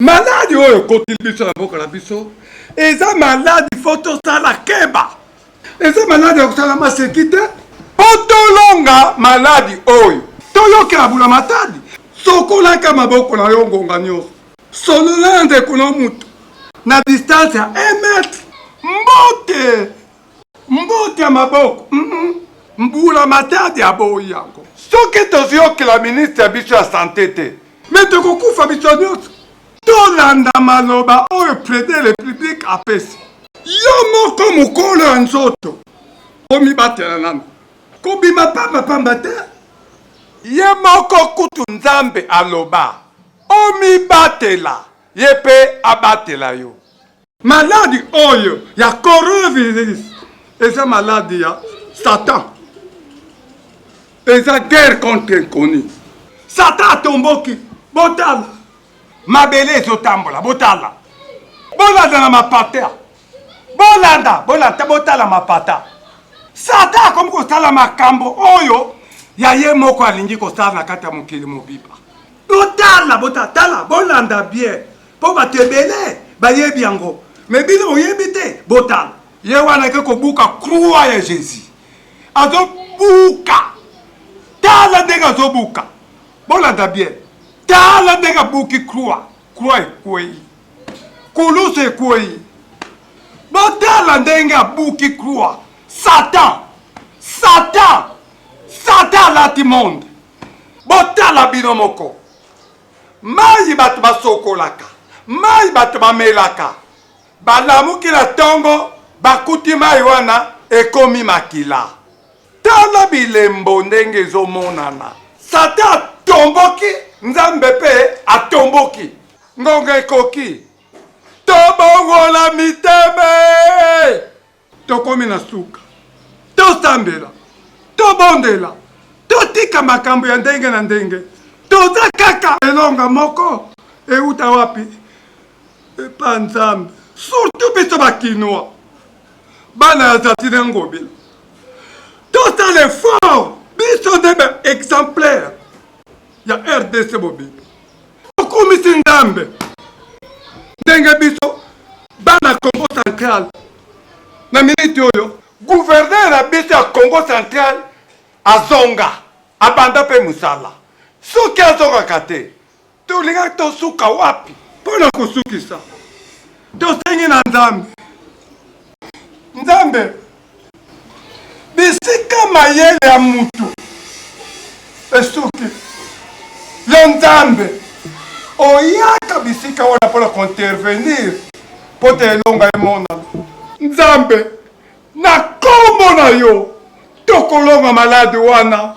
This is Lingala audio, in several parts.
maladi oyo ekotili biso na mboka na biso eza maladi fo tosala keba eza maladi ya kosala maseki te mpo tolonga maladi oyo toyokela bula matadi sokolaka maboko na yo ngonga nyonso solola na ndeko na moto na distance ya 1 metre mbote mbote ya maboko mm -mm. mbula matadi aboyi yango soki toziyokela ministre ya biso ya sante te Mais tokokufa biso nyoso. Tolanda maloba oyo President de la République apesi. Yo moko mokolo ya nzoto omibatela nanu. Kobima pamba pamba te. Ye moko kutu Nzambe aloba omibatela ye pe abatela yo. Maladi oyo ya coronavirus eza maladi ya Satan, eza guerre contre inconnu. Satan atomboki, botala mabele ezotambola, botala bolanda na mapata, bolanda bolanda, botala mapata. Satan akomi kosala makambo oyo ya ye moko alingi kosala na kati ya mokili mobimba. Botala botala, bolanda bien Po bato ebele bayebi yango mais bino boyebi te botala. Ye wana ake kobuka croix ya Jesus azo buka tala ndenge azo buka bolanda bien tala ndenge abuki croix croix ekweyi kulusu ekweyi botala ndenge abuki croix satan satan satan alati monde botala bino moko Mayi bato basokolaka, mayi bato bamelaka, balamuki na tongo, bakuti mayi wana ekomi makila. Tala bilembo ndenge ezomonana. Satan atomboki, Nzambe pe atomboki. Ngonga ekoki, tobongola mitema! Tokomi na suka. Tosambela. Tobondela. Totika makambo ya ndenge na ndenge. Toza kaka. Elonga moko euta wapi? Epa Nzambe. Surtout biso ba Kinois. Bana ya Zatine Ngobila. Tosala effort. Biso nde ba exemplaire ya RDC Bobibi. okumisi nzambe ndenge biso bana congo central na miniti oyo guverner na biso ya congo central azonga abanda mpe mosala soki azongaka te tolingaki tosuka wapi mpo na kosukisa tosengi na nzambe nzambe bisika mayele ya moto esuki yo nzambe oyaka bisika wana mpo na kointervenir mpo te elonga emonana nzambe na nkombo na yo tokolonga maladi wana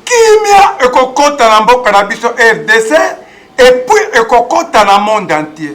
kimia ekokota na mboka na biso rdc epuis ekokota na monde entier